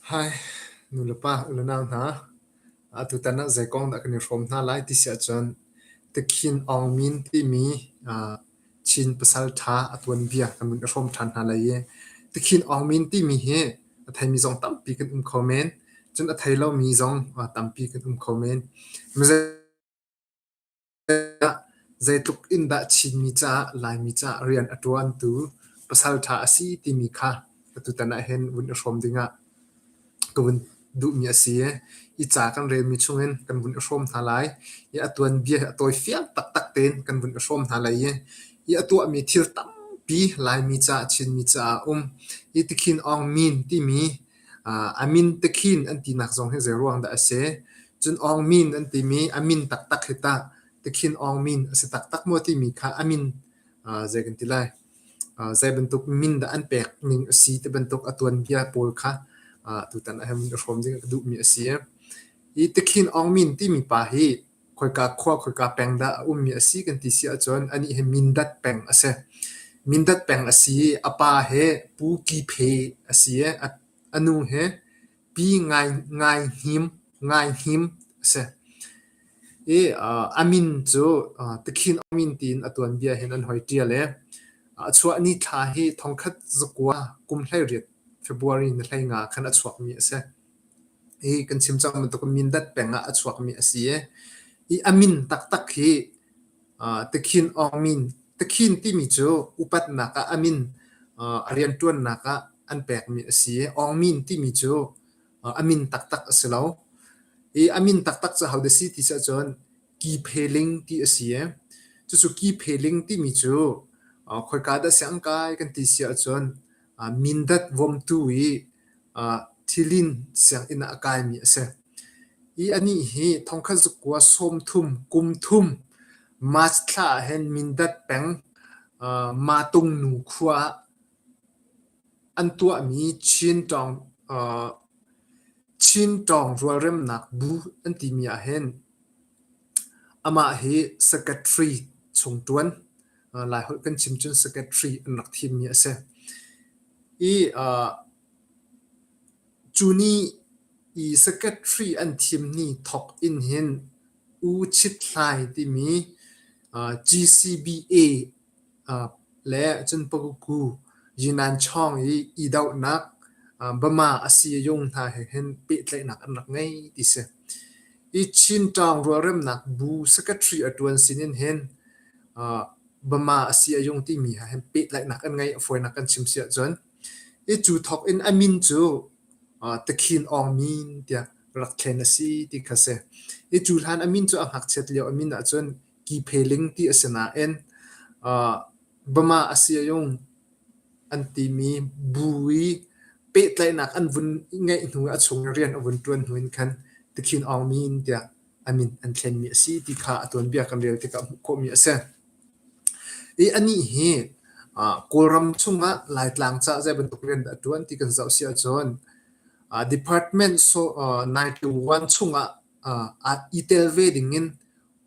Hi nulepa le nau hna, atutan ah zei kong dah kan i hrawm hna lai ti si ahcun Takhin Aung Min timi Chin pasal ṭha a tuanbia kan vun i hrawm ṭhan hna lai i Takhin Aung Min timi hi a theimi zong tampi kan um kho men. Cun a thei lomi zong tampi kan um kho men. Mizei Zeitluk in dah Chinmi caah Laimi caah rian a ṭuantu pasal ṭha a si timi kha atutan ahhin vun i hrawm dingah ka vun duhmi a si i, hi ca kan relmi chungin kan vun i hrawm hna lai. I a tuanbia hi a tawi fiang taktak tein kan vun i hrawm hna lai i, hi a tuahmi thil tampi Laimi caah Chinmi caah a um. Hi tikhin Aung Min timi a min tikhin an tinak zong hi zeiruang dah a si. Cun Aung Min an timi a min taktak hi tah tikhin Aung Min a si taktak maw timi kha a min zei kan ti lai zei bantuk min dah an pek ning a si ti bantuk a tuanbia pawl kha tutan ah hin hrawm ding a duhmi a si. Hi tikhin Aung Min timi pa hi khoika khua khoika peng dah a ummi a si kan ti si ahcun anih hi Mindat peng a si. Mindat peng a si i a pa hi Pu Ki Phe a si i a, a nu hi Pi Ngai, Ngai Hnim, Ngai Hnim a si. I uh, a min cu uh, Tikhin Awmin tiin a tuanbia hin an hoi ṭial i a chuah ni thla hi thongkhat zakua kum hlei riat February ni hlei nga khan a chuakmi a si. Hi kan chim cang bantuk in Mindat peng ah a chuakmi a si i, i a min taktak hi uh, Tikhin Aung Min. Tikhin timi cu upatnak ah a min uh, a rianṭuannak ah an pekmi a si i, Aung Min timi cu uh, a min taktak a si lo. I a min taktak cu how da si ti sih cun Ki Phe Ling ti a si i, cucu Ki Phe Ling timi cu uh, khoika dah siang kai kan ti si ahcun Mindat vomtu i thilin sianginn ah a kaimi a si. I anih hi thongkhat zuk kua sawmthum, kumthum March thla ahhin Mindat peng Matung nu khua ah an tuahmi Chin Tawng rualremnak bu an timi ahhin amah hi secretary chung ṭuan. Laiholh kan chim cun secretary an rak thimmi a si. I cu ni i secretary an thimni thawk in hin U Chit Hlai timi GCBA le cun Paguku Yinan Chawng i idohnak Bama Asiyayung hna he hin pehtlaihnak an rak ngei ti si. I Chin Tawng rualremnak bu secretary a tuan sinin hin Bama a si a yung timi ha hin pehtlaihnak an ngei, a fawinak kan chim si ahcun. I cu thawk in a min cu Takhin Aung Min tiah rak thlen a si ti kha si. I cu hlan a min cu a ngakchiat lio a min ahcun Ki Phe Ling ti a si nain Bama a si a yung an timi bu i pehtlaihnak an vun ngeih hnu i a chung i rian a vun ṭuan hnu in khan Takhin Aung Min tiah a min an thlenmi a si ti kha a tuanbia kan rel tikah hmuh khawhmi a si. I anih hi Kawlram chungah Laitlang ca zei bantuk rian dah a ṭuan ti kan zoh si ahcun department so nine to one chungah i tel ve dingin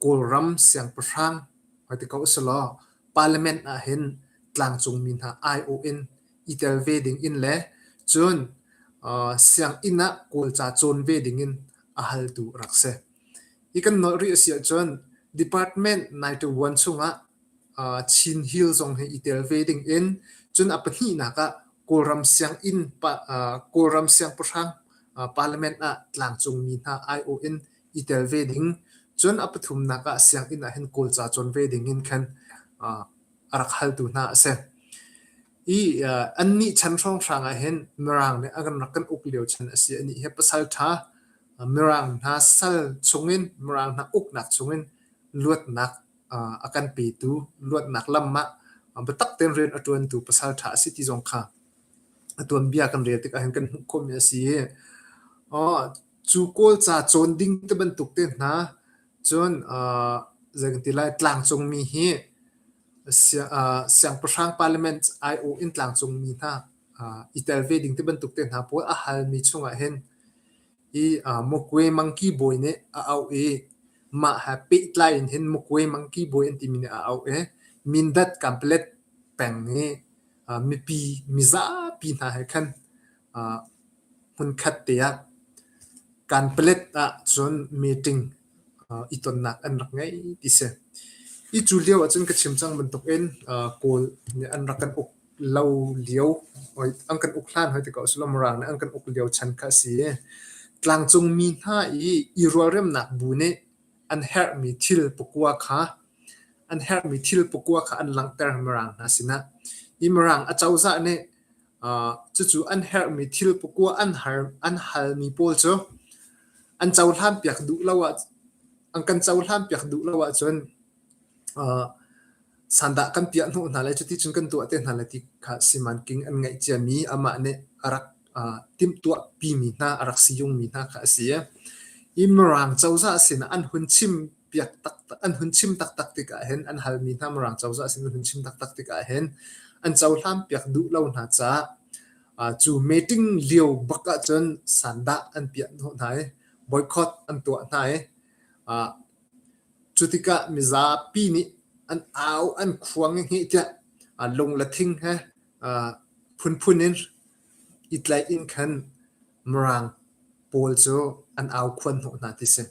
Kawlram siangpahrang hoiti ko si law parliament ah hin tlangcungmi hna aiawh in i tel ve ding in le cun sianginn ah kawlca cawn ve ding in a haltu rak si. Hi kan nolh rih a si ahcun department 921 chungah Chin Hill zong hi i tel ve ding in cun a pahnihnak ah Kawlram sianginn Kawlram siangpahrang parliament ah tlangcungmi hna aiawh in i tel ve ding cun a pathumnak ah sianginn ah hin kawlca cawn ve ding in khan a rak haltu hna a si. I uh, annih chan hrawnghrang ah hin Mirang nih an rak kan uk lio chan a si anih hi pasal ṭha Mirang hna sal chungin Mirang hna uknak chungin luatnak uh, a kan petu luatnak lam ah biatak tein rian a ṭuantu pasal ṭha a si ti zong kha a tuanbia kan rel tik ahhin kan hmuh khawhmi a si i oh, cu kawlca cawn ding te bantuk te hna Cun zei kan ti lai tlangcungmi hi siangpahrang parliament aiawh in tlangcungmi hna i tel ve ding ti bantuk te hna pawl a halmi chungah hin i Mukwe Mangki Bawi nih a auh i mah he pehtlai in hin Mukwe Mangki Bawi an timi nih a auh i Mindat Kanpalet peng i mipi mizapi hna he khan Hmunkhat te ah Kanpalet ahcun meeting i tonnak an rak ngei ti si. Hi cu lio ahcun ka chim cang bantukin Kawl nih an rak kan uk lo lio, an kan uk hlan hoi ti ko a si lo, Mirang nih an kan uk lio chan kha a si i tlangcung mi hna i i rualremnak bu nih an herhmi thil pakua kha an herhmi thil pakua kha an langhter Mirang hna sinah. Hi Mirang acozah nih Cucu an herhmi thil pakua an halmi pawl cu an cohlanpiak duh lo ah an kan cohlanpiak duh lo ahcun sandah kan piah hnawh hna lai cuti cun kan tuah te hna lai ti kha simanking an ngeih ciami amah nih a rak timhtuahpimi hna a rak si jungmi hna kha a si i Mirang cozah sinah an hun chim piak taktak an hun chim taktak tikah hin an halmi hna Mirang cozah sin an hun chim taktak tikah hin an cohlan piak duh lo hna ca cu meeting lio bak ahcun sandah an piah hna i boycott an tuah hna i cu tikah mizapi nih an au an khuang hi tiah lung la thing he phunphun in itlaih in khan Mirang pawl cu an au khuan hnawh hna ti si.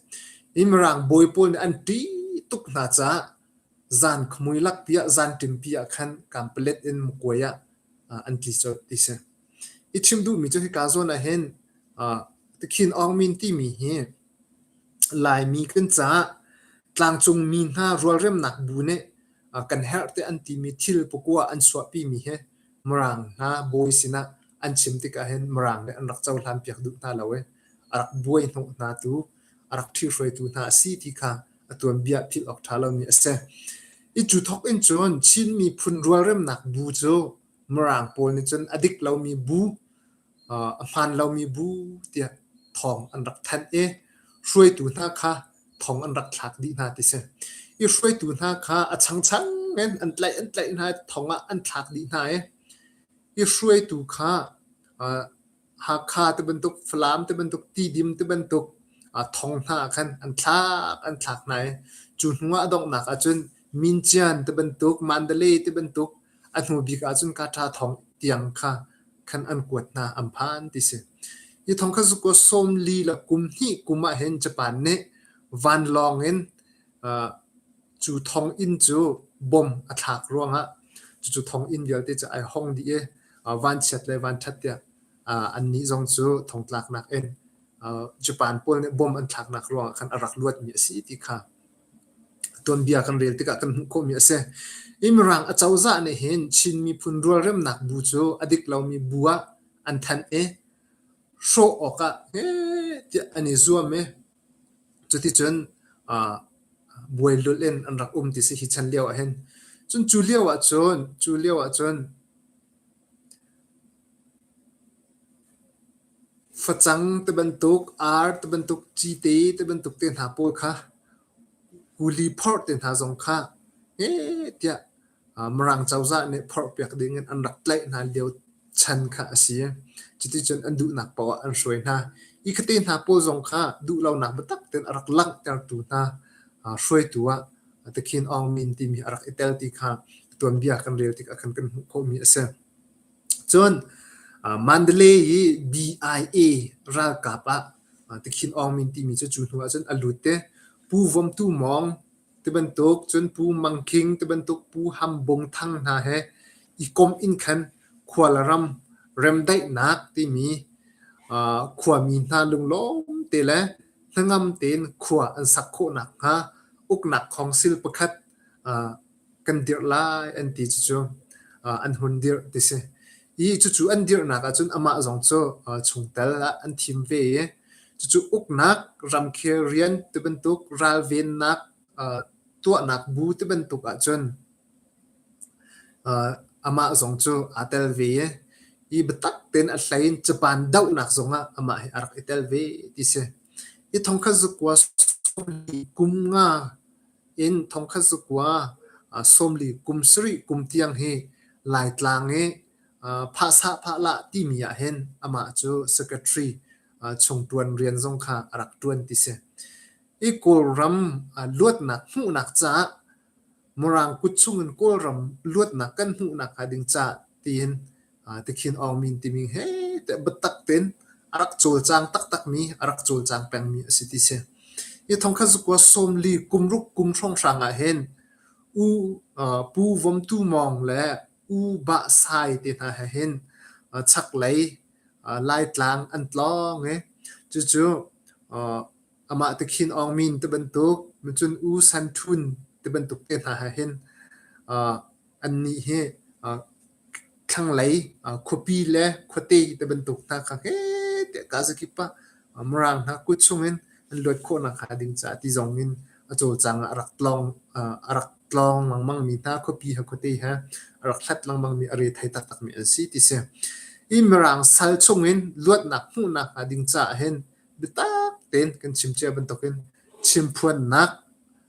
I Mirang bawi pawl nih an ṭih tuk hna caah zan khmui lak piah zan ṭim pi ah khan kampalet in mukuai ah an tli colh ti si. I chim duhmi cu hika zawn ah hin Tikhin Aung Min timi hi Laimi kan caah tlangcung mi hna rualremnak bu nih kan herh te an timi thil pukua an suahpimi hi Mirang hna bawi sinah an chim tikah hin Mirang nih an rak cohlanpiak duh hna lo i a rak buaihnawh hna tu, a rak ṭhihruaitu hna a si ti kha a tuanbia philh awk ṭha lomi a si. I cu thawk in cun Chin miphun rualremnak bu cu Mirang pawl nih cun a dik lomi bu a hlan lomi bu tiah thawng an rak thanh i hruaitu hna kha thong an rak thlak dih hna ti si. I hruaitu hna kha a changchang in an tlaih an tlaih hna thong ah an thlak dih hna i i hruaitu kha Hakha ti bantuk Falam ti bantuk Tidim ti bantuk thong hna khan an thlak an thlak hna i cu hnu ah a donghnak ahcun Mincian ti bantuk, mandale ti bantuk a hnu bik ahcun kaṭa thong tiang kha khan an kuat hna, an phan ti si. Hi thong kha zuko sawmli le kum hnih kum ah hin Japan nih vanlawng in uh, cu thong inn cu bom a thlak ruangah cucu thong inn vialte cu ai hong dih i uh, vanchiat le vanṭhat tiah uh, annih zong cu thongtlaknak in uh, Japan pawl nih bom an thlaknak ruangah khan a rak luatmi a si ti kha tuanbia kan rel tikah kan hmuh khawhmi a si. I Mirang acozah nih hin Chin miphun rualremnak bu cu a dik lomi bu ah an thanh i hrawh awkah tiah an i zuam i cuticun uh, buai lulh in an rak um ti si hi chan lio ah hin cun cu lio ah cun cu lio ah cun Facang ti bantuk, ar ti bantuk, cite ti bantuk te hna pawl kha kuli phorh te hna zong kha heh tiah Mirang cozah nih phorh piak ding in an rak tlaih hna lio chan kha a si. Cuticun an duhnak poah an hruai hna. Hi kha te hna pawl zong kha duhlonak biatak tein a rak langhtertu hna hruaitu ah Takhin Aung Min timi a rak i tel ti kha tuanbia kan rel tik ah khan kan hmuh khawhmi a si. Cun Mandalay i DIA ralkap ah Tikhin Aung Min timi cu cu hnu ahcun a lut i Pu Vom Tu Mawng tibantuk cun Pu Mang Khing tibantuk Pu Ham Bung Thang hna he i komh in khan Khualram remdaihnak timi khuami hna lunglawmte le hnangam tein khua an sak khawh nakhnga uknak khawngsil pakhat kan dirh lai an ti cucu an hun dirh ti si. I cucu an dirhnak ahcun amah zong cu chungtel ah an thim ve i cucu uknak, ramkhel rian tibantuk, ralvennak, tuahnak bu tibantuk ahcun amah zong cu aa tel ve i i biatak tein a hlei in caban dohnak zong ah amah hi a rak i tel ve ti si. I thongkhat zukua kum nga in thongkhat zakua sawmli kum sarih kum tiang hi Laitlang i phahsah phahlah timi ah hin amah cu secretary chung ṭuan rian zong kha a rak ṭuan ti si. I Kawlram luatnak hmuhnak caah Mirang kut chung in Kawlram luatnak kan hmuhnak hnga ding caah tiin Tikhin Aung Min timi he teh biatak tein a rak cawlcang taktakmi, a rak cawlcang pengmi a si ti si. Hi thongkha zukua sawmli kumruk kum hrawnghrang ah hin U Pu Vom Tu Mawng le U Ba Sai te hna he hin chaklei Laitlang an tlawng i cucu amah tikhin Aung Min te bantuk, cun U San Htun te bantuk te hna he hin annih hi thlanglei khuapi le khuate ti bantuk hna kha he tiah kaza kip ah Mirang hna kut chungin an luat khawhnak hnga ding caah ti zong in a cawlcang ah a rak tlawng a rak tlawng lengmangmi hna khuapi ha khuate ha a rak hlat lengmangmi a re thai taktakmi an si ti si i Mirang sal chungin luatnak hmuhnak hnga ding caah hin biatak tein kan chim cia bantukin chimphuannak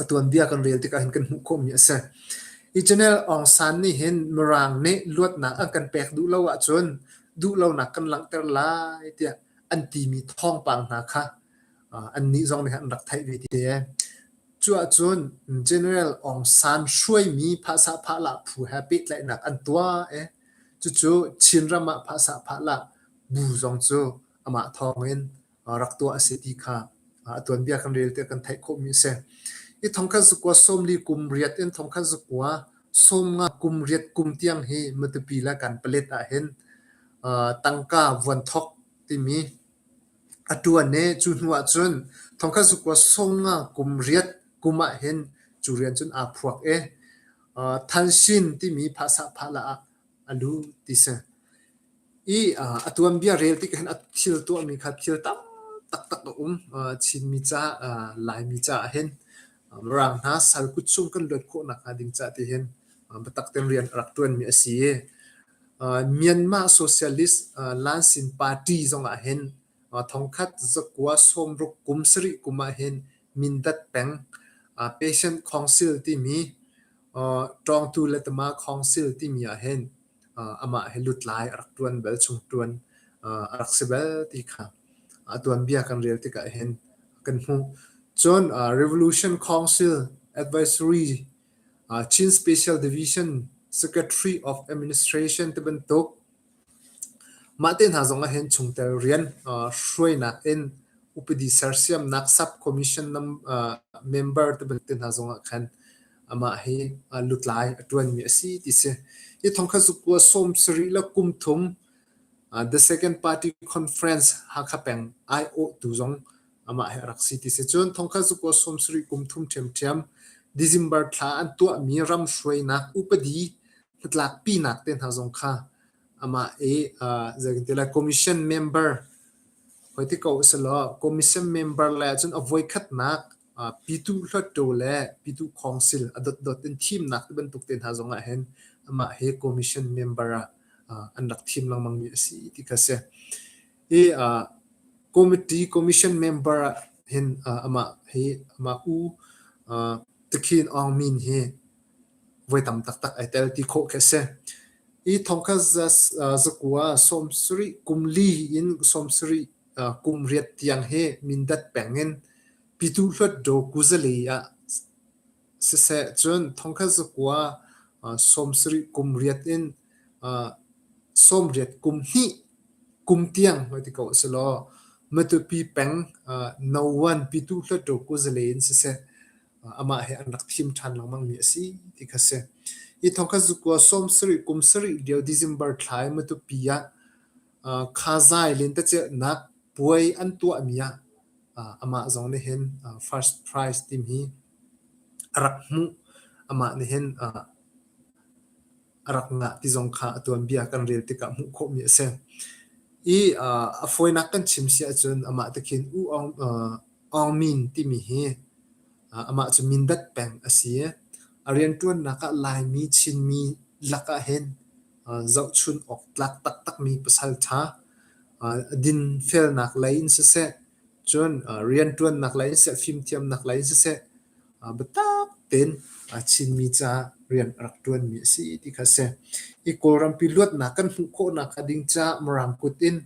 a tuanbia kan rel tikah hin kan hmuh khawhmi a si. Hi Channel Aung San nih hin Mirang nih luatnak an kan pek duh lo ahcun duhlonak kan langhter lai tiah an timi thawngpang hna kha uh, annih zong nih an rak theih ve te. Cu ahcun General Aung San hruaimi phahsa phahla phu he pehtlaihnak an tuah e cucu Chin ram ah phahsa phahla bu zong cu amah thawng in rak tuah a si ti kha a tuanbia kan rel tiah kan theih khawhmi a si. Hi thong khat zakua sawmli kum riat in thong khat zakua sawm nga kum riat kum tiang hi matupi la kan palet ah hin tangka vuan thok timi a tuan ne cu hnu ah cun thong khat zakua sawm nga kum riat kum ah hin cu rian cun aa phuak e than sin timi phasa pha la ah a lu ti si i uh, a tuanbia rel ti khan a thil tuahmi kha thil tam taktak a um uh, Chinmi ca uh, Laimi ca ah hin rang hna sal kut chung kan luat khawh nak hnga ding ca ti hin batak ten rian rak tuan mi a si Myanmar Socialist Lansin Party zong ah hin thongkhat zakwa somruk kum sari kum ah hin mindat peng Patient Council ti mi Tawngtu Letama Council ti mi ah hin amah he lutlai a rak ṭuan bel, chung ṭuan a rak si bel ti kha a tuanbia kan rel tikah hin kan hmuh. Cun Revolution Council Advisory Chin Special Division Secretary of Administration ti bantuk mah te hna zong ah hin chungtel rian hruainak in upadi sersiamnak sub commission member te bantuk hna zong ah khan amah hi lutlai a ṭuanmi a si ti si. Hi thong kha zukua sawm sarih le kum thum The Second Party Conference Hakha peng aiawhtu zong amah he a rak si ti si. Cun thong kha zukua sawm sarih kum thum ṭhiamṭhiam December thla an tuahmi ram hruainak upadi hnatlakpinak te hna zong kha amah i zeitintilah commission member hoiti ko si law commission member le ahcun a voikhatnak Pitu hluatṭaw le pitu khawngsil a dotdot in thimnak tibantuk te hna zongah hin amah hi commission member ah an rak thim lengmangmi a si ti kha si. I committee commission member ah hin amah hi amah u Takhin Aung Min hi voi tam taktak ai tel ti khawh khi a si. I thongkhat zakua sawmsarih kum li in sawmsarih kum riat tiang hi Mindat peng in Pyituh Hluatdaw kuzali ah siseh cun thongkhat zakua sawmsarih kum riat in sawmriat kum hnih kum tiang hoi ti ko si law Matupi peng Noan Pyituh Hluatdaw kuzali in siseh amah he an rak thim ṭhan lengmang mi a si ti kha si. Hi thongkhat zakua sawmsarih kum sarih lio December thlai Matupi ah Khazai lentecelhnak puai an tuahmi ah amah zong nih hin first prize timi a rak hmuh. Amah nih hin a rak ngah ti zong kha a tuanbia kan rel tikah hmuh khawhmi a si. I a fawinak kan chim si ahcun amah te khin U Aung Min timi hi amah cu Mindat peng a si i a rianṭuannak ah Laimi, Chinmi lakah hin zohchunh awk tlak taktakmi pasal ṭha, dinfelnak lei in siseh, cun rianṭuannak lei in siseh, fimthiamnak lei in siseh, biatak tein Chinmi caah rian a rak ṭuanmi a si ti kha a si. I Kawlrampi luatnak kan hmuh khawhnak hnga ding ca, Mirang kut in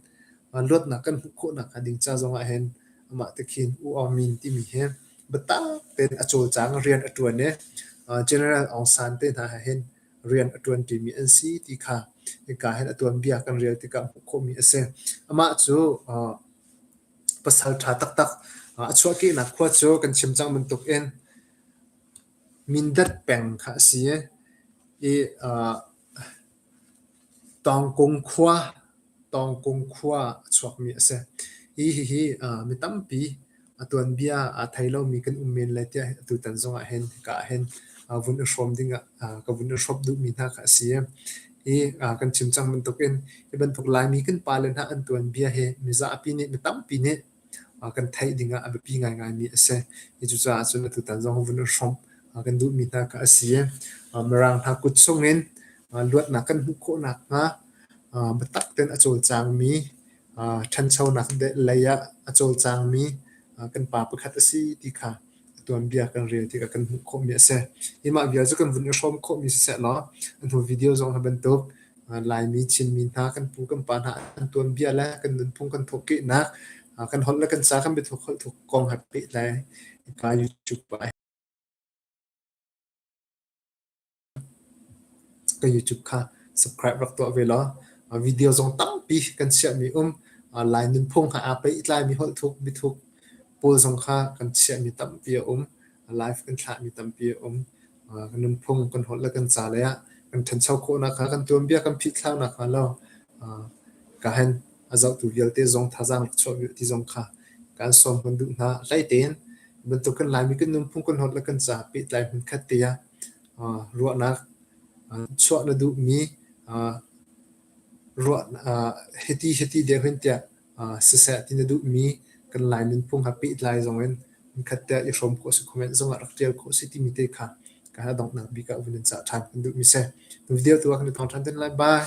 luatnak kan hmuh khawhnak hnga ding ca zongah hin amah te khin U Aung Min timi hi biatak tein a cawlcang rian a ṭuan i General Aung San te hna he hin rian a ṭuanṭimi an si ti kha hika hin a tuanbia kan rel tikah hmuh khawhmi a si. Amah cu uh, pasal ṭha taktak uh, a chuahkehnak khua cu kan chim cang bantuk in Mindat peng kha a si i, uh, Tawngkung khua, Tawngkung khua a chuakmi a si. Hi hihi mi tampi a tuanbia aa thei lomi kan um men lai tiah tutan zongah hin ka ah hin vun i hrawm ding ah ka vun i hrawp duhmi hna kha a si. Hi kan chim cang bantukin hi bantuk Laimi kan pale hna an tuanbia hi mi zapi nih mi tampi nih kan theih ding ah a biapi ngaingaimi a si. Cucaah cun atutan zong vun in hrawmh kan duhmi hna kha a si. Mirang hna kut chungin luatnak kan hmuh khawh nakhnga biatak ten a cawlcangmi, ṭhanchonak lei ah a cawlcangmi kan pa pakhat a si ti kha a tuanbia kan rel tikah kan hmuh khawhmi a si. Hi mah vial cu kan vun i hrawm khawhmi siseh law a hnu video zong hi bantuk Laimi Chinmi hna kan pu kan pa hna an tuanbia le kan nunphung kan thawhkehnak kan holh le kan ca kan biathuk holh thuk kong ha peh lai pa YouTube ai. Ka YouTube kha subscribe rak tuah ve law video zong tampi kan chiahmi um Lai nunphung ha aa pehtlaimi holhthuk mithuk pawl zong kha kan chiahmi tampi a um live kan thlahmi tampi a um kan nunphung kan holh le kan ca lei ah kan ṭhancho khawhnak hnga kan tuanbia kan phihthlaunak hnga lo ka hen a zohtu vialte zong thazaang rak chuah ve ti zong kha kan sawm kan duh hna hlei tein bantuk kan Laimi kan nunphung kan holh le kan ca pehtlai hmunkhat te ah Ruahnak chuah na duhmi hiti hiti deuh hin tiah siseh ti na duhmi kan Lai nunphung ha pehtlai zongin nikhat tiah i hrawm khawh a si khawh men zongah rak ṭial khawh a si timi te kha ka hal a donghnak bik ah vun in cah ṭhan kan duhmi si. Nu video tu ah kan i thawng ṭhan te lai. Bye.